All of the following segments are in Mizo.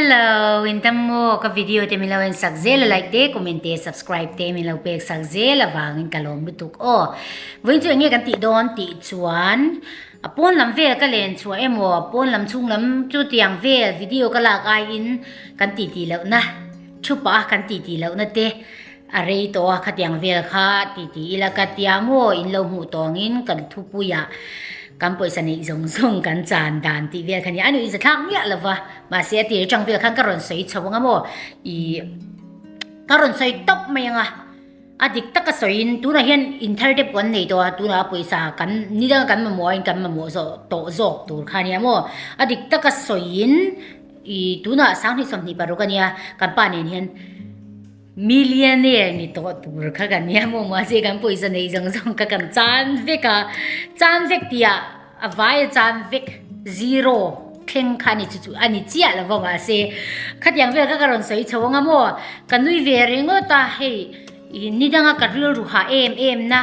Hello in tam maw ka video te min lo en sak zel a like te comment te subscribe te min lo pek sak zel avang in ka lawm lutuk aw vawiin chu enge kan tih dawn tih chuan a pawn lam vel ka len chhuah emaw a pawn lam chhung lam chu tiang vel video ka lak ai in kan titi lohna thupa kan titi lohna te A rei tawh a khatiang vel kha ti ti ila ka tia maw in lo hmuh tawngin kan thupui-a kan pawisa neih zawng zawng kan chan dan tih vel kha nia a nuih za thlak miah lova mahse a tir atang vel khan ka rawn sawi chho ang a maw ih ka rawn sawi tawp mai anga a dik taka sawiin tunah hian in thar dep kan nei tawh a tunah pawisa kan ni dang kan mamawh a in kan mamawh zawh tawh zawk tur kha nia maw a dik taka sawiin ih tunah sang hnih sawm hnih paruk ania kan pa nen hian Millionaire ni tawh tur kha kan nia maw mahse kan pawisa nei zawng zawng kha kan chan vek a, chan vek tih ah a vai a chan vek zero thleng kha a ni chu chu a ni chiah lova mahse khatiang vel kha ka rawn sawi chho ang a maw ka nui ve ringawt a hei i ni danga ka rilru ha em em na.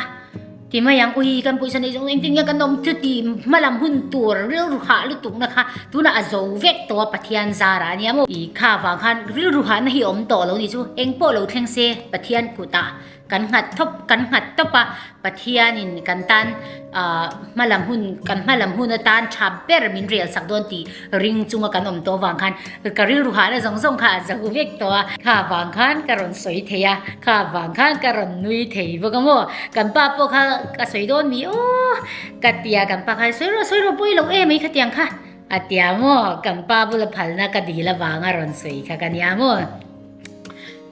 Ti mai ang, ui kan pawisa nei zawng zawng engtin nge kan awm chuti hmalam hun tur rilru hah lutukna kha tunah a zo vek tawh a Pathian zarah a nia maw? I kha vang khan rilru hahna hi awm tawh lo ni chu eng pawh lo thleng se Pathian kutah kan nghat thawp kan nghat tawp a Pathianin kan tan ahh hmalam hun kan hmalam hun atan tha ber min rial sak dawn tih Ring chunga kan awm tawh vang khan ka rilru hahna zawng zawng kha a zahu vek tawh a, kha vang khan ka rawn sawi thei a, kha vang khan ka rawn nui thei bawk a maw, kan pa pawh kha a sawi dawn mi aw ka ti a, kan pa kha sawi rawh sawi rawh pawi lo e mai kha tiang kha a ti a maw, kan pa bula phalna ka dil avanga rawn sawi kha ka nia maw,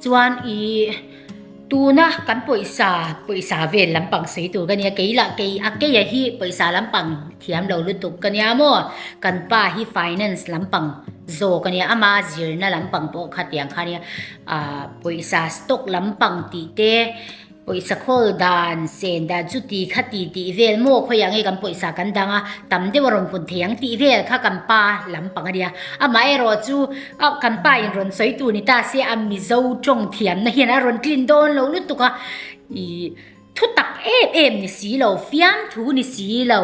chuan ih. Tuna kan pawisa pawisa vel lampang sawi tur ka nia kei lah kei a keia hi pawisa lampang thiam lo lutuk ka nia maw kan pa hi finance lampang zawk a nia ama zirna lampang pawh kha tiang kha nia ah pawisa stock lampang tih te pawisa khawl dan sen dan chuti kha ti ti vel maw khawi ang e kan pawisa kan dang a tam deuha rawn pun thei ang tih vel kha kan pa lampang a nia amaherawhchu-- Au, kan pa in rawn sawi tu ni ta se a Mizo tawng thiamna hian a rawn tlin dawn lo lutuk a, ih, thutak em em ni si lo, fiamthu ni si lo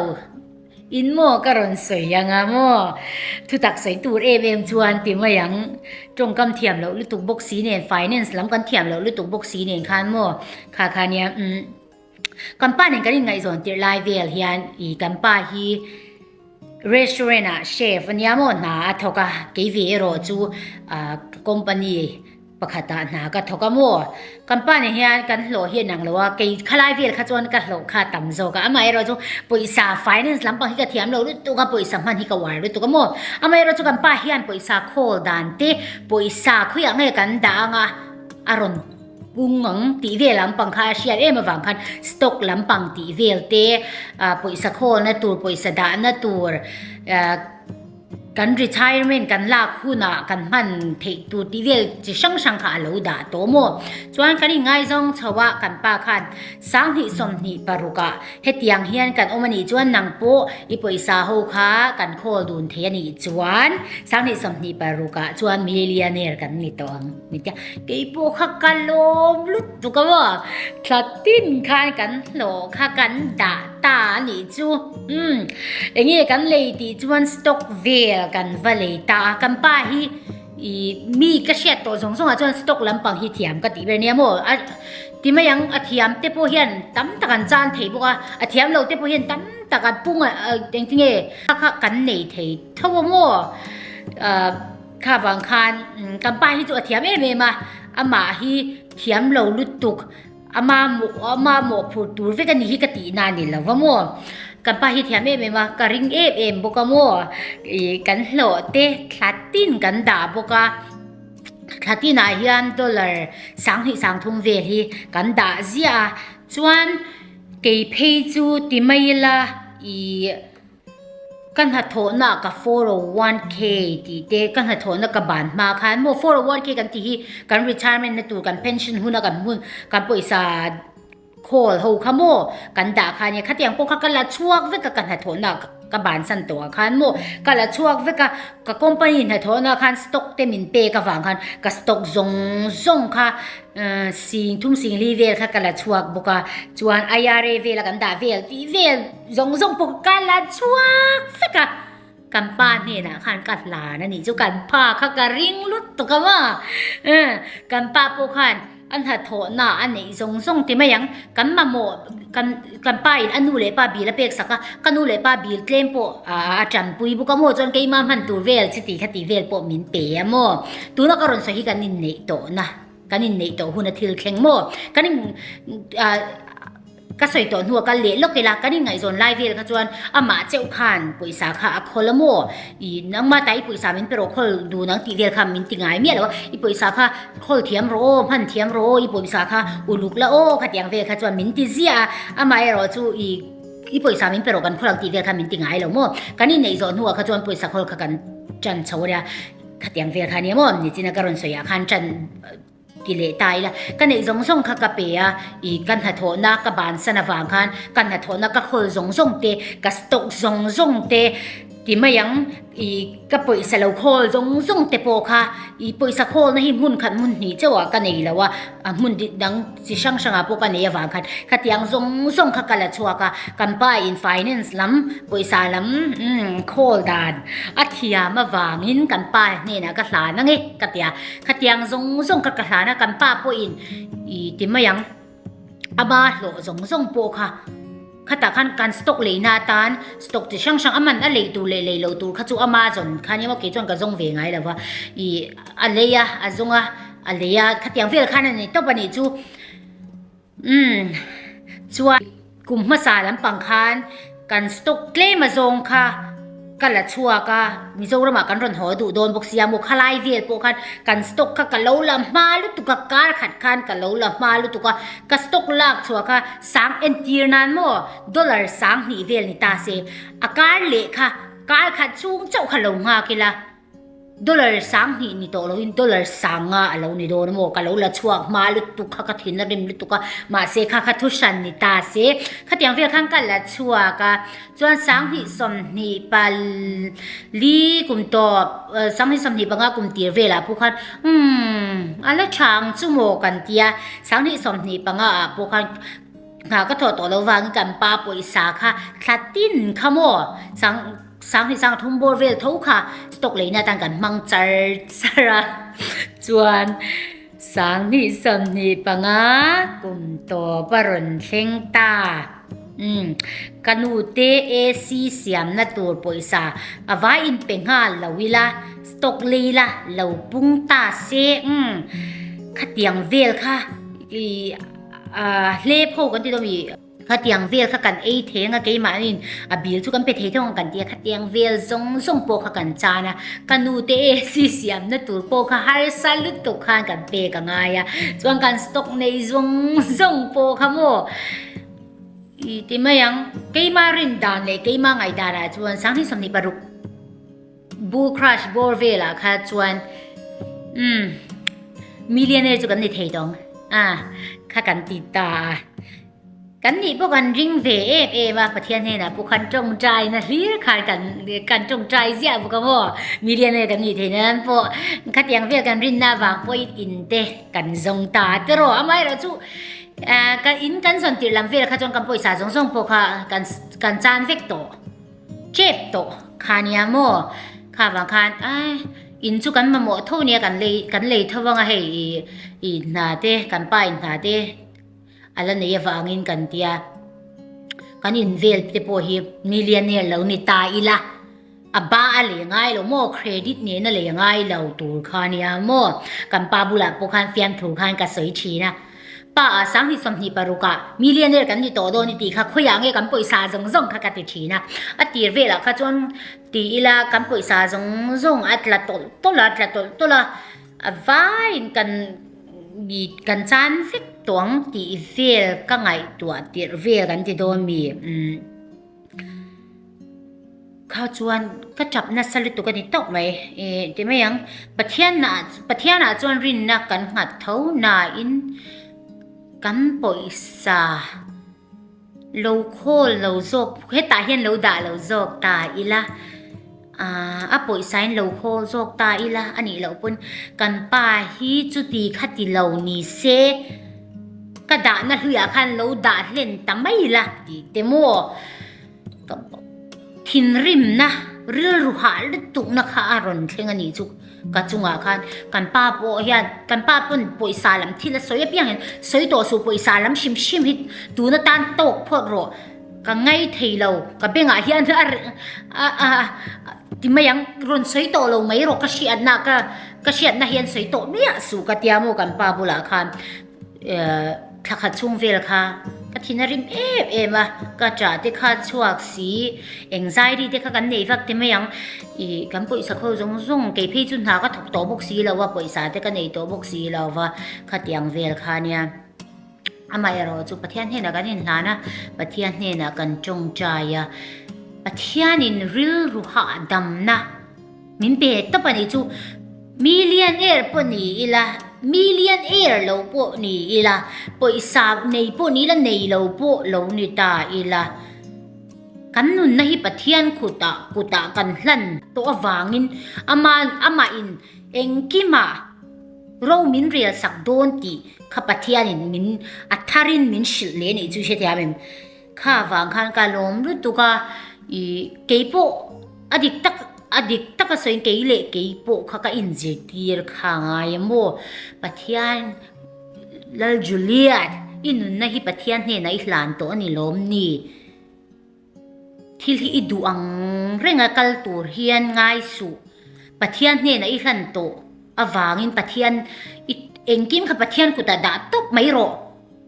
in maw ka rawn sawi ang a maw? Thutak sawi tur em em chuan ti mai ang, tawngkam thiam loh lutuk bawk si nen, finance lam kan thiam loh lutuk bawk si nen khan maw? Kha khan nia, umm. Kan pa nen kan inngaihzawn tirh lai vel hian i kan pa hi restaurant ah chef ania maw hna a thawk a, kei ve erawh chu company pakhat ah hna ka thawk a maw? Kan pa nen hian kan hlawh hi a nang lo a, kei kha lai vel kha chuan ka hlawh kha a tam zawk a, amaherawh chu pawisa finance lampang hi ka thiam lo lut tuk a, pawisa hman hi ka uar lutuk a maw? Amaherawh chu kan pa hian pawisa khawl dan te pawisa khawiah nge kan dah anga a rawn Kung ang tih vel lampang kha a hriat em avang khan stock lampang tih vel te pawisa khawna tur pawisa dahna tur kan retirement kan lak hunah kan hman theih tur tih vel chi hrang hrang kha a lo dah tawm aw. Chuan kan inngai zawng chho a kan pa khan sang hnih sawm hnih paruk ah hetiang hian kan awm a nih chuan nang pawh i pawisa ho kha kan khawl dun thei a nih chuan sang hnih sawm hnih paruk ah chuan millionaire kan ni tawh ang. Ni tia, kei pawh kha ka lawm lut bawk a maw? Thla tin khan kan hlawh kha kan dah ta a nih chu. Umm, eng nge kan lei tih chuan stock vel kan va lei ta a. Kan pa hi ih mi ka hriat tawh zawng zawngah chuan stock lampang hi thiam ka tih ber nia maw? A ti mai ang, a thiam te pawh hian tam tak an chan thei bawk a. A thiam lo te pawh hian tam tak a pung a, engtinge kha kha kan nei thei tho a maw? Ahh. Kha vang khan kan pa hi chu a thiam em em a, amah hi thiam lo lutuk, ama ama mawhphur tur vek a ni hi ka tih na ni lo va maw. Kan pa hi thiam em em a, ka ring em em bawk a maw, ih kan hlawh te thla tin kan dah bawk a, thla tinah hian dollar sang hnih sang thum vel hi kan dah ziah a, chuan kei phei chu ti mai ila ih. Ka hnathawhna ka four oh one k tih te ka hnathawhna ka ban hma khan maw four oh one k kan tih hi kan retirement na tur kan pension huna kan hmun kan pawisa khawl ho kha maw kan dah khan nia khatiang pawh kha ka la chhuak vek a ka hnathawhna ka ban san tawh ang khan maw ka la chhuak vek a ka company hnathawhna khan stock te min pek avang khan ka stock zawng zawng kha sing thum sing li vel kha ka la chhuak bawk a chuan IRA vel a kan dah vel tih vel-- Zawng zawng pawh ka la chhuak fek a, kan pa hnenah khan ka hlan a nih chu kan pa kha ka ring lut tak ang a. Eh, kan pa pawh khan a hnathawhna a neih zawng zawng ti mai ang. Kan mamawh kan kan pa in a nu leh pa bil a pek sak a, ka nu leh pa bil tlem pawh a tanpui bawk a maw chuan keima hman tur vel chi ti kha tih vel pawh min pe a maw. Tuna ka rawn sawi hi kan inneih tawhna, kan inneih tawh huna thil thleng maw. Kan in ah. Ka sawi tawh hnu a kal leh lawk ila kan inngaihzawn lai vel kha chuan amah cheu khan pawisa kha a khawl a maw i nangma tah i pawisa min pe rawh khawl dun ang tih vel kha min ti ngai miah lo a i pawisa kha khawl thiam rawh aw hman thiam rawh aw i pawisa kha uluk la aw kha tiang vel kha chuan min ti ziah a amah erawh chu i i pawisa min pe rawh kan khawl ang tih vel kha min ti ngai lo maw kan inneih zawh hnu ah kha chuan pawisa khawl kha kan tan chho a nia khatiang vel kha nia maw nichina ka rawn sawi ah khan tan Ti leh ta ila, ka neih zawng zawng kha ka pe a, i ka hnathawhna ka bansan avang khan ka hnathawhna ka hawl zawng zawng te, ka stock zawng zawng te, ti mai ang i ka pawisa lo khawl zawng zawng te pawh kha i pawisa khawlna hi hmun khat hmun hnih chauhah ka nei lo a, a hmun dang chi hrang hrangah pawh ka nei avang khan khatiang zawng zawng kha ka la chhuak a, kan pa in finance lam pawisa lam khawl dan a thiam avangin kan pa hnenah ka hlan ang e ka ti a. Khatiang zawng zawng ka kahlan a, kan pa pawhin i ti mai ang. A ba hlawh zawng zawng pawh kha khatah khan kan stock leihna atan stock chi hrang hrang a man a lei tur leh lei lo tur kha chu ama zawn khan emaw kei chuan ka zawng ve ngai lova i a lei a a zawng a a lei a khatiang vel khan a nei tawp a nih chu. Umm. Chuan kum hmasa lampang khan kan stock tlema zawng kha ka la chhuak a, Mizoram ah kan rawn haw duh dawn bawk sia maw, khalai vel pawh khan kan stock kha ka lo la hma lutuk a, kar khat khan ka lo la hma lutuk a, ka stock lak chhuah kha sang entir nan maw dollar sang hnih vel ni ta se, a kar leh kha kar khat chhung chauh kha lo nghak ila. Dollar sang hnih ni tawh lohin dollar sanga a lo ni dawn a maw ka lo la chhuak hma lutuk kha ka thin a rim lutuk a, mahse kha kha thu hran ni ta se. Khatiang vel khan ka la chhuak a, chuan sang hnih sawmhnih pali kum tawp, sang hnih sawmhnih panga kum tir velah pawh khan umm a la tha ang chu maw kan ti a, sang hnih sawmhnih panga ah pawh khan nghah ka thawh tawh lo vangin kan pa pawisa kha thlatin kha maw, sang-- Sang hi sang thum bawr vel tho kha stock leihna atan kan hmang char char a chuan sang hnih sawm hnih panga kum tawpa rawn thleng ta um ka nu te AC siamna tur pawisa a vai in pe nghal lo ila stock lei la lo pung ta se um khatiang vel kha i a hle pho kan ti dawm i. Khatiang vel kha kan ei theng a, keimahniin a bil chu kan pe thei thung ang kan ti a, khatiang vel zawng zawng pawh kha kan chan a, ka nu te e sisiamna tur pawh kha harsa lutuk khan kan pek a ngai a, chuan kan stock nei zawng zawng pawh kha maw i ti mai ang, keima rin dan leh keima ngaihdanah chuan Sanghnih sawmhnih paruk. Bull crush bawr velah kha chuan umm millionaire chu kan ni thei tawng a kha kan ti ta a kan nih pawh kan ring ve em em a pathian hnenah pawh khan tawngtai na hlir kha kan kan tawngtai ziah bawk a maw millionaire kan nih theih nan pawh khatiang vel kan rinna avang pawh i in te kan zawng ta te rawh amaherawh chu kan in kan zawn tirh lam vel kha chuan kan pawisa zawng zawng pawh kha kan kan chan vek tawh. Chep tawh kha nia maw? Kha vang khan ai in chu kan mamawh tho nia kan lei kan lei tho vang a hei i i hna te kan pa in hna te a la nei avangin kan tia kan invel te pawh hi millionaire lo ni ta ila a ba a lei ngai lo maw credit nena lei ngai lo tur kha nia maw kan pa bulah pawh khan fiamthur khan ka sawi thin a Pa a, sang hi sawmhnih paruk ah millionaire kan ni tawh dawn i tih kha khawi ah nge kan pawisa zawng zawng kha ka ti thin a. A tir vel ah kha chuan tih ila kan pawisa zawng zawng a tla tawlh tawlh a, tla tawlh tawlh a, a vai in kan kan chan vek tawh ang tih vel ka ngaihtuah tirh vel kan ti dawn mi. Kha chuan ka tap nasa lutuk a ni tawh mai e, ti mai ang. Pathianah, Pathianah chuan rinna kan nghat tho nain kan pawisa lo khawl lo zawk, hetah hian lo dah lo zawk ta ila. Aaa, a pawihsain lo haw zawk ta ila a nih loh pawn kan pa hi chuti kha ti lo ni se ka dahna hluiah khan lo dah hlen ta mai ila ti te maw? Ka thinrimna rilru hah lutukna kha a rawn thleng a nih chu ka chungah khan kan pa pawh hian kan pa pawn pawisa lam thil a sawi apiang in sawi tawh suh pawisa lam hrim hrim hi tuna tan tawk phawt rawh. Ka ngai thei lo, ka bengah hian ti mai ang, rawn sawi tawh lo mai erawh ka hriatna ka ka hriatna hian sawi tawh miah suh ka tia maw kan pa bulah khan thla khat chhung vel kha ka thin a rim em em a, ka ṭah te kha chhuak si, engzairi te kha kan nei vak ti mai ang, ih kan pawisa kho zawng zawng kei phei chu hna ka thawk tawh bawk si lo a, pawisa te ka nei tawh bawk si lo va, khatiang vel kha nia. Amaherawh chu Pathian hnenah kan inhlan a, Pathian hnenah kan ṭawngṭai a. Pathianin rilru hahdamna min pe tawp a nih chu. Millionaire pawh ni ila, millionaire lo pawh ni ila, pawisa nei pawh ni ila, nei lo pawh lo ni ta ila, kan nunna hi Pathian kutah kutah kan hlan tawh avangin, Ama, Amahin engkimah, Ro min rial sak dawn tih kha Pathianin min a tharin min hrilh leh nih chu i hrethiam em? Kha vang khan ka lawm lutuk a, i kei pawh a dik tak a dik taka sawiin kei leh kei pawh kha ka inzirtir kha a ngai em aw. Pathian, Lal Juliet, i nunna hi Pathian hnenah i hlan tawh a ni lawm ni? Thil hi i duh ang renga kal tur hian ngaisuh Pathian hnenah i hlan tawh avangin Pathian i engkim kha Pathian kutah dah tawp mai rawh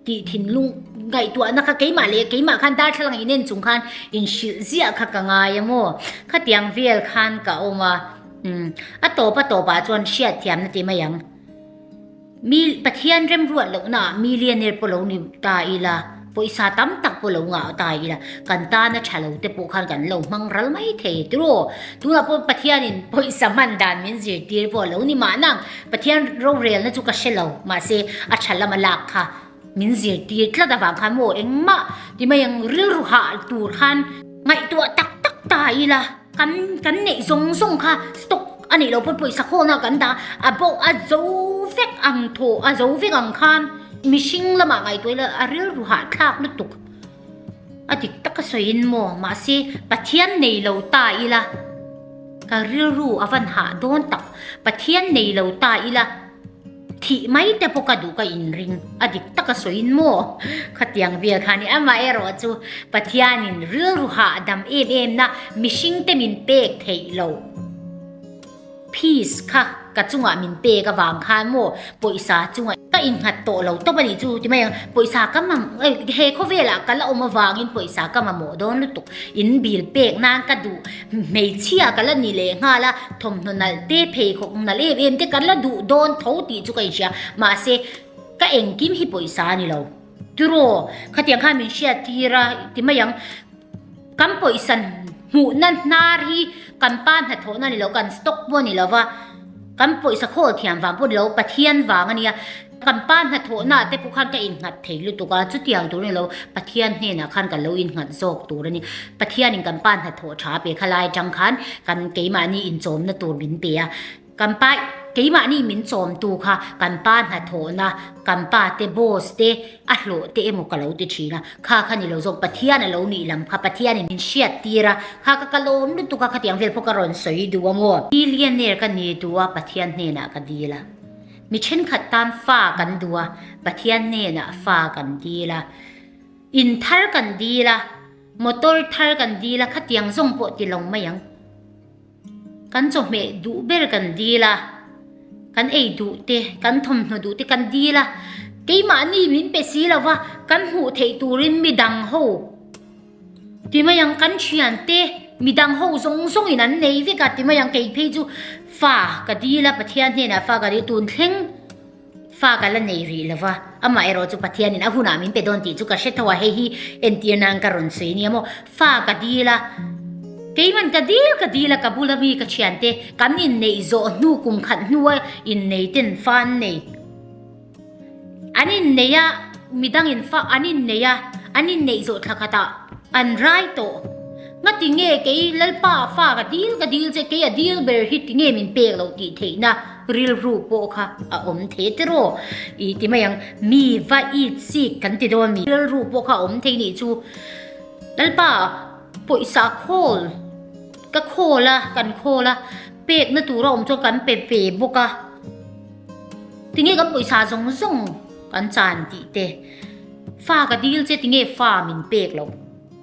tih thinlung ngaihtuahna kha keimah leh keimah khan darthlalang inen chung khan inhrilh ziah kha ka ngai a maw? Khatiang vel khan ka awm a, umm, a tawpa tawpah chuan hriat thiamna ti mai ang. Mi Pathian remruat lohnaah millionaire pawh lo ni ta ila, pawisa tam tak pawh lo ngah ta ila, kan tana tha lo te pawh khan kan lo hmang ral mai thei e. Turaw, tunah pawh Pathianin pawisa hman dan min zirtir pawh lo ni mahna, Pathian rorelna chu ka hre lo, mahse a tha lama lak kha Min zirtir tlat avang khan maw engmah ti mai ang rilru hal tur khan ngaihtuah tak tak ta ila kan kan neih zawng zawng kha stock a nih loh pawh pawisa khawna kan dah a bo a zo vek ang thaw a zo vek ang khan mihring lamah ngaihtuah ila a rilru hal thlak lutuk a dik taka sawiin maw mahse Pathian nei lo ta ila ka rilru a van hah dawn tak Pathian nei lo ta ila Thih mai te pawh ka duh ka inring a dik taka sawiin maw khatiang bial khan i amah erawh chu Pathianin rilruha a dam em emna mihringte min pek theih lo fees kha ka chungah min pek avang khan maw pawisa chunga ka innghat tawh lo tawp a nih chu ti mai ang pawisa ka mam he khawvelah ka la awm avangin pawisa ka mamawh dawn lutuk in bil pek nan ka duh Hmeichhia ka la ni leh nghal a, thawmhnaw nalh te, pheikhawk nalh em em te kan la duh dawn tho tih chu ka inhria. Mahse, ka engkim hi pawisa a ni lo. Turaw, khatiang khan min hriattir a, ti mai ang, kan pawisa hmuhna hnar hi kan pa hnathawhna a ni lo, kan stock pawh a ni lo va, kan pawisa khawl thiam vang pawh a ni lo, Pathian vang a nia. Kan pa hnathawhnaah te pawh khan ka innghat thei lutuk a, chutiang tur nilo Pathian hnenah khan ka lo innghat zawk tur a ni. Pathianin kan pa hnathawh tha pe kha lai atang khan kan keimahni inchawmna tur min pe a. Kan pa keimahni min chawmtu kha kan pa hnathawhna, kan pa te boss te a hlawh te emaw ka lo ti thin a, kha kha nilo zawk Pathian a lo nih lam kha Pathianin min hriat tir a, kha ka kal awm lutuk a, khatiang vel pawh ka rawn sawi duh a maw. Millionaire ka ni duh a Pathian hnenah ka dil a. Mi thenkhat tan fa kan duh a, Pathian hnenah fa kan dil a. In thar kan dil a, motor thar kan dil a, khatiang zawng pawh ti lo mai ang. Kan chawhmeh duh ber kan dil a, kan ei duh te, kan thawmhnaw duh te kan dil a. Keimahni min pe si lo va, kan hmuh theih turin midang ho, Ti mai ang kan thian te mi dang ho zawng zawng in an nei vek a ti mai ang kei phei chu fa ka dil a pathian hnen ah fa ka dil tun thleng fa ka la nei rih lo va amah erawh chu pathian in a hun ah min pe dawn tih chu ka hre tho a hei hi entir nan ka rawn sawi nia maw fa ka dil a kei man ka dil ka dil a ka bul a mi ka thian te kan in nei zawh hnu kum khat hnu a in nei ten fa an nei An inneih a, midang in fak an inneih a, an inneih zawh thla khat ah an rai tawh. Nga ti nge kei Lalpa a fak a dil ka dil che, kei a dil ber hi ti nge min pek lo tih theihna rilru pawh kha a awm thei tir aw. I ti mai ang mi va it sik kan ti dawn a ni. Rilru pawh kha a awm thei nih chu Lalpa pawisa a khawl, ka khawl a, kan khawl a, pekna tur a awm chuan kan pe ve bawk a. Tinge kan pawisa zawng zawng kan chan tih te. Fa ka dil che tinge fa min pek lo.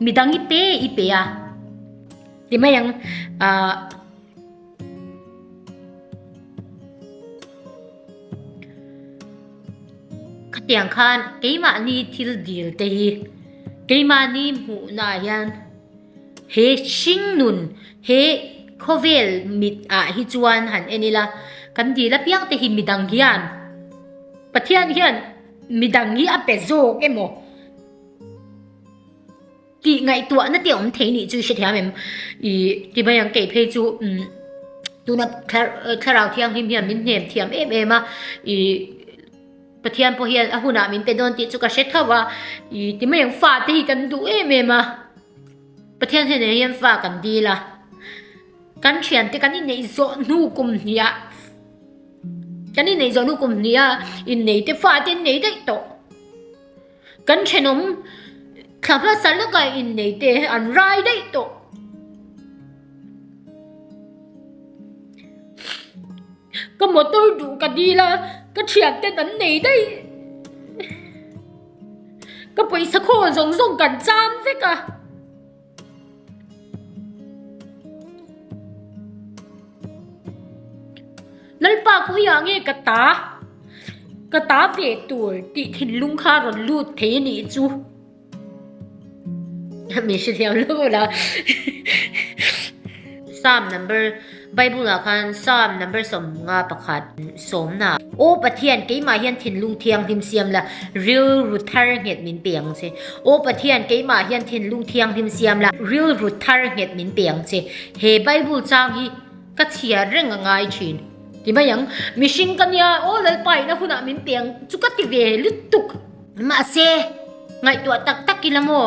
Midang i pe i pe a. Ti mai ang ah khatiang khan keimah ni thil dil te hi keimah ni hmuh na ah hian He hringnun he khawvel mit ah hi chuan han en ila, kan dil apiang te hi mi dang hian Pathian hian mi dang hi a pe zawk emaw tih ngaihtuah na te awm thei nih chu i hrethiam em? I ti mai ang kei phei chu um tuna Thlarau Thianghlim hian min hnem thiam em em a i Pathian pawh hian a hunah min pe dawn tih chu ka hre thauh a, ih ti mai ang fate hi kan duh em em a, Pathian hian eng hian fa kan dil a, kan thiante kan inneih zawh hnu kum hniah kan inneih zawh hnu kum hniah inneihte fate an nei daih tawh. Kan thenawm thla hmasa lakai innei te an rai daih tawh. Ka motor duh ka dil a, ka thian ten an nei daih. Ka pawisa khawl zawng zawng kan cham vek a. Lalpa ka hawih ah nge ka ta ka ta ve tur tih thinlung kha rawn lut thei a nih chu a hmel hriat loh loh a sam number . Bible ah khan Psalm number sawmnga pakhat sawmna ah Aw Pathian keimah hian thinlung thianghlim siam la, rilru thar nghet min pe ang che. Aw Pathian keimah hian thinlung thianghlim siam la, rilru thar nghet min pe ang che. He Bible chang hi ka chhiar reng a ngai thin. Ti mai ang. Mihring ka nia, aw Lalpa ina hunah min pe ang chu ka ti ve lutuk. Mahse, ngaihtuah tak tak ila maw?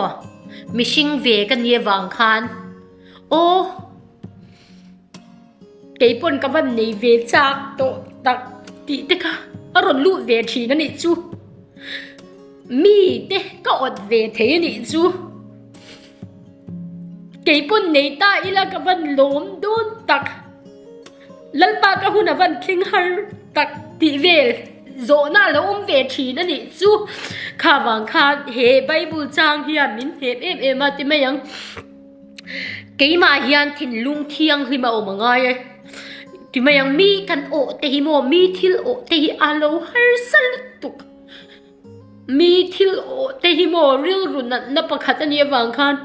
Mihring ve ka nia vang khan aw. Kei pawn ka van nei ve chak tawh tak tih te kha a rawn luh ve thin a nih chu. Mi te ka awt ve thei a nih chu. Kei pawn nei ta ila ka van lawm dawn tak. Lalpa ka hun a van tling har tak tih vel zawhna a lo awm ve thin a nih chu. Kha vang khan he Bible chang hian min hnem em em a ti mai ang. keimah hian thinlung thianghlim a awm a ngai a ti mai ang mi kan awh te hi maw mi thil awh te hi a lo harsa lutuk mi thil awh te hi maw rilru natna pakhat a nih avang khan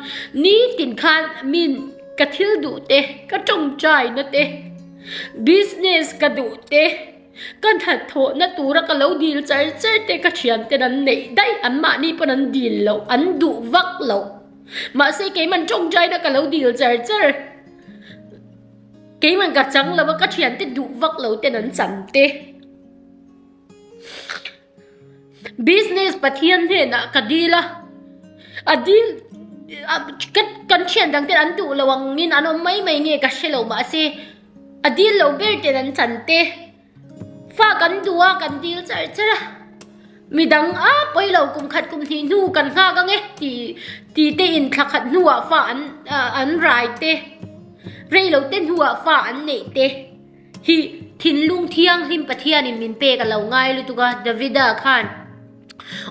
nitin khan min ka thil duh te ka tawngtai na te business ka duh te ka hnathawh na tura ka lo dil char char te ka thiante an neih daih an mahni pawn an dil loh an duh vak loh. Mahse keiman tawng jaina ka lo dil char char. Keiman ka chang lo a ka thian te duh vak lo ten an cham te. Business Pathian hnenah ka dil a. A dil kan thian dang ten an duh lo angin an awm mai mai nge ka hre lo mahse a dil lo ber ten an chan te. Fa kan duh a, kan dil char char a, midang a pawi lo kum khat kum hnih hnu kan nghak ange ti te in thla khat hnu ah fa an rai te, rei lo te hnu ah fa an neih te hi thinlung thianghlim Pathian in min pek a lo ngai lutuk a, David a khan.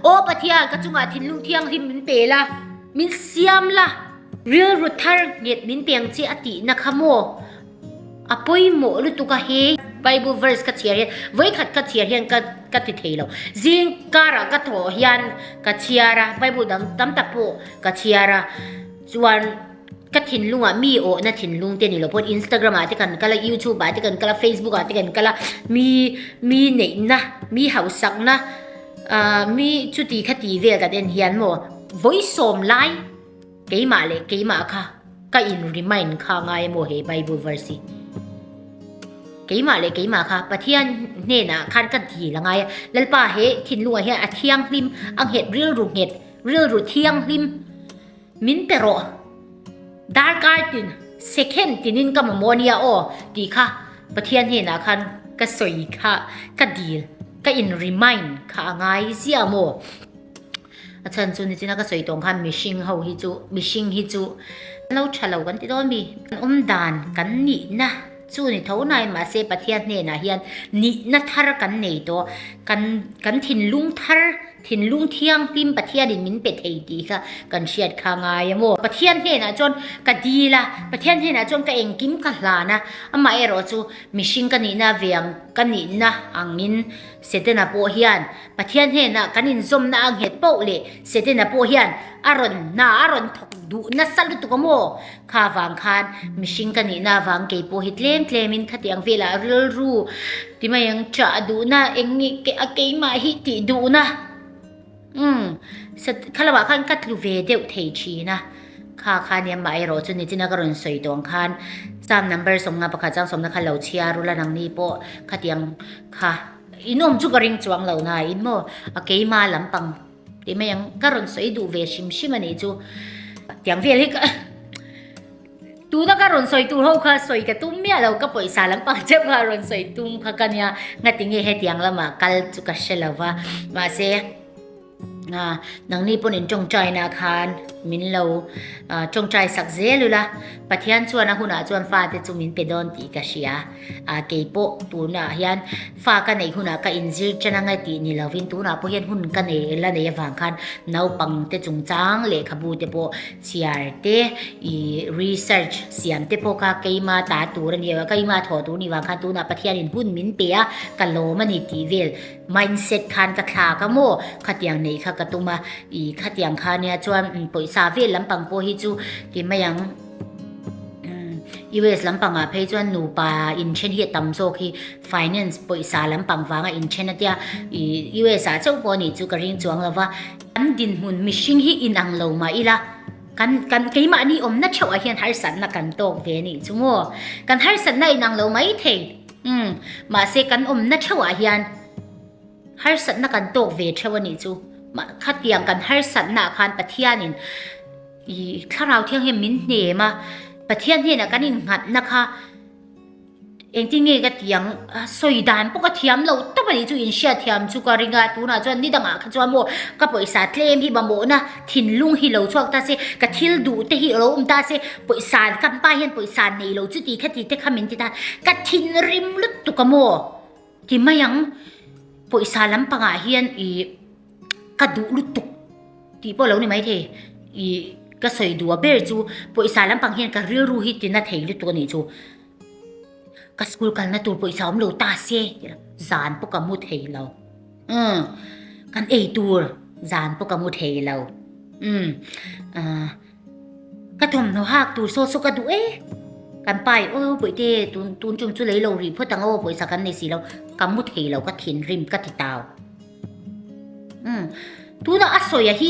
Aw Pathian, ka chungah thinlung thianghlim min pe la, min siam la, rilru thar nghet min peng che a tihna kha maw a pawimawh lutuk a he? Bible verse ka chhiar hian, vawi khat ka chhiar hian ka ka ti thei lo. Zing karah ka thaw hian ka chhiar a, Bible dang tam tak pawh ka chhiar a. Chuan. Ka thinlunga mi awhna thinlung te ni lo pawh Instagram ah te kan kal a YouTube ah te kan kal a Facebook ah te kan kal a mi mi neihna mi hausakna ah mi chuti kha ti vel ta ten hian maw vawi sawm lai keimah leh keimah kha ka in remind kha ngai emaw he Bible verse hi keimah leh keimah kha Pathian hnenah khan ka dil a ngai a Lalpa he thinlunga hian a thianghlim a nghet rilru nghet rilru thianghlim Min pe rawh. Darkar tin, second tinin ka mamawh a nia aw tih kha Pathian hnenah khan ka sawi kha ka dil, ka in remind kha a ngai zia maw? A chhan chu nichin a ka sawi tawng khan mihring ho hi chu, mihring hi chu kan lo tha lo kan ti dawn a mi? Kan awmdan kan nihna chu ni tho nain mahse Pathian hnenah hian nihna thar kan nei tawh, kan kan thinlung thar, Thinlung thianghlim Pathianin min pe thei tih kha kan hriat kha ngai a maw? Pathian hnenah chuan ka dil a, Pathian hnenah chuan ka engkim ka hlan a, amah erawh chu mihring ka nihna veng ka nihna angin Setana pawh hian Pathian hnenah kan inzawmna a nghet pauh leh Setana pawh hian a rawn hna a rawn thawk duh nasa lutuk a maw? Kha vang khan mihring ka nihna avang kei pawh hi tlem tlemin khati ang velah rilru ti mai ang chah duhna eng nge a keimah hi tih duhna umm sat kha lamah khan ka tlu ve deuh thei thin a. Kha khani amah erawh chu nichina ka rawn sawi tawng khan cham number sawmna pakhat chang sawmna kha lo chhiar ula nangni pawh khati ang kha inawm chu ka ring chuang lo nain maw a keima lampang. Ti mai ang, ka rawn sawi duh ve hrim hrim a nih chu. Tiang vel hi ka Tuna ka rawn sawi tur ho kha sawi ka tum miah lo, ka pawisa lampang che kha rawn sawi tum kha ka nia. Ngati nge hetiang lama kal chu ka hre lo va. Mahse a nangni pawn in tawngtaina khan min lo tawngtai sak zel ula. Pathian chuan a hunah chuan fate chu min pe dawn tih ka hria. A keipawh tunah hian fa ka neih hunah ka inzir chen angai tih ni lovin tunah pawh hian hun ka nei la nei avang khan naupangte chungchang lehkhabute pawh chhiar te ih research siam te pawh kha keima ta tur a ni avang a keima thawh tur ni vang khan tunah Pathianin hun min pe a ka lawm a ni tih vel mindset khan ka thlak a maw khatiang neih kha ka tum a ih khatiang khania chuan pawisa vel lampang pawh hi chu ti mai ang. US lampangah phei chuan nupa inthen hi a tam zawk hi finance pawisa lampang vanga inthen a tia ih US ah chauh pawh a nih chu ka ring chuang lova kan dinhmun mihring hi inang lo mah ila kan kan keimahni awmna theuhah hian harsatna kan tawk ve a nih chu ngaw kan harsatna inang lo mai thei um mahse kan awmna theuhah hian harsatna kan tawk ve theuh a nih chu khatiang kan harsatna khan pathianin I Thlarau Thianghlim min hne em a, Pathian hnenah kan innghatna kha engtin nge ka tih ang, sawi dan pawh ka thiam lo tawp a nih chu inhriat thiam chu ka ring a, tunah chuan ni dangah kha chuan maw ka pawisa tlem hi mamawhna thinlung hi lo chhuak ta se, ka thil duh te hi alo awm ta se, pawisa kan pa hian pawisa nei lo chu tihkha tihte kha min ti ta, ka thinrim lutuk a maw ti mai ang, pawisa lampangah hian ih. Ka duh lutuk tih pawh lo ni mai thei i ka sawi duh a ber chu pawisa lampang hian ka rilru hi tina thei lutuk a nih chu. Ka school kalna tur pawisa awm lo ta se tih zan pawh ka mu thei lo. Umm kan ei tur zan pawh ka mu thei lo. Umm ahh. Ka thawmhnaw hak tur saw saw ka duh e. Kan pa hi aw Bawihtê tun tun ṭum chu lei lo rih phawt ang aw pawisa kan nei si lo, ka mu thei lo ka thinrim ka ti tau. Umm tuna a sawi a hi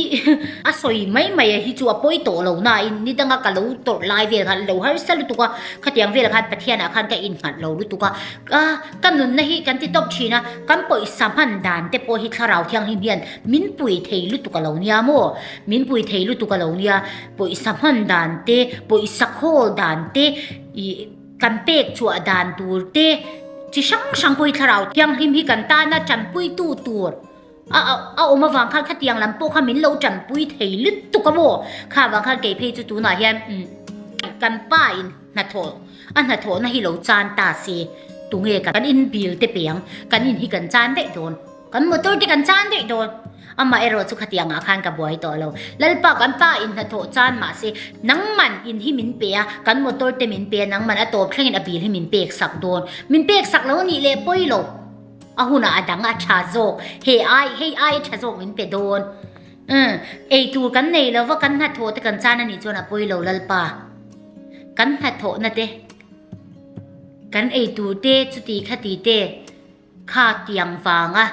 a sawi mai mai a hi chu a pawi tawh lo nain ni danga ka lo tawrh lai vel khan lo harsa lutuk a, khatiang vel khan Pathianah khan ka innghalh lo lutuk a. Ka ka nunna hi kan ti tawp ṭhin a, kan pawisa hman dan te pawh hi Thlarau Thianghlim hian min pui thei lutuk a lo nia maw? Min pui thei lutuk a lo nia, pawisa hman dan te, pawisa khawl dan te, ih kan pek chhuah dan tur te, chi hrang hrang pawh hi thlarau thianghlim hi kan tana tanpuitu tur a a awm avang khan khatiang lam pawh kha min lo tanpui thei lutuk a maw kha avang khan kei phei chu tunah hian kan pa in hnathawh a hnathawhna hi lo chan ta se tunge kan inbil te peng kan in hi kan chan daih dawn kan motor te kan chan daih dawn Amah erawh chu khatiangah khan ka buai tawh lo. Lalpa kan pa in hnathawh chan mahse, nangman in hi min pe a, kan motor te min pe a, nangman a tawp thlengin a bil hi min pek sak dawn. Min pek sak lo nih leh pawi lo. A hunah a dang a, a tha zawk. He ai, hei ai a tha zawk min pe dawn. Umm, eitur kan nei lo va, kan hnathawh te kan chan anih chuan a pawi lo Lalpa. Kan hnathawhna te, kan eitur te chuti khati te. Kha tiang vanga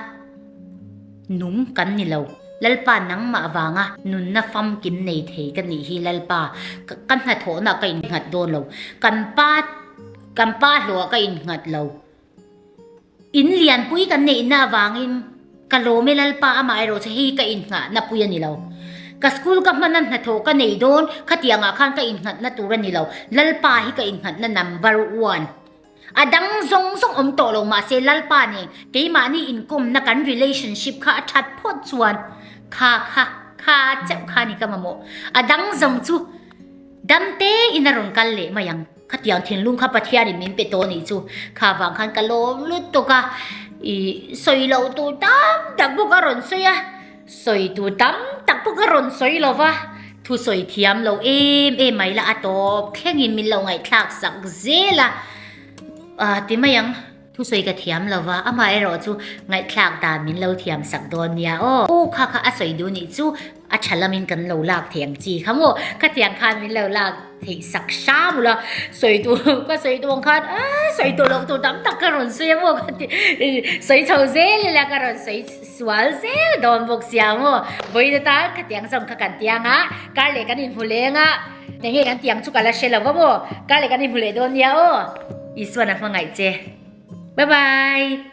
num kan ni lo. Lalpa nangmah vanga nunna famkim nei thei ka nih hi Lalpa, ka hnathawhna ka innghat dawn lo. Kan pa, kan pa hlawha ka innghat lo. In lianpui kan neihna avangin ka lawm e Lalpa, amah erawh chu hei hi ka innghatna pui a ni lo. Ka school ka hmana hnathawh ka nei dawn, khatiangah khan ka innghatna tur a ni lo. Lalpa hi ka innghatna number one A dang zawng zawng awm tawh lo mahse Lalpa nen keimahni inkawmna kan relationship kha a that phawt chuan kha kha kha cheuh kha ni ka mamawh. A dang zawng chu damte in a rawn kal leh mai ang. Khatiang thinlung kha Pathianin min pe tawh ni chu kha vang khan ka lawm lut tawk a. I sawi loh tur tam tak bawk a rawn sawi a. Sawi tur tam tak pawh ka rawn sawi lo va, thu sawi thiam lo em em mai la a tawp thleng in min lo ngaihthlak sak zel a, ah ti mai ang, thu sawi ka thiam lo va, amah erawh chu ngaihthlak dan min lo thiam sak dawn nia aw, aw kha kha a sawi duh nih chu a tha lam in kan lo lak thei ang chi kha maw, khatiang khan min lo lak. theih sak hra bula sawi tur ka sawi dawn khan aaa sawi tawh loh tur tam tak ka rawn sawi a maw ka ti sawi chho zel ila ka rawn sawi sual zel dawn bawk sia a maw vawiin ata ka tiang zawng kha kan tiang a kar leh kan inhmu leng a enge kan tiang chu ka la hre lo va maw kar leh kan inhmu leh dawn nia aw Isuan a hmangaih che bye bye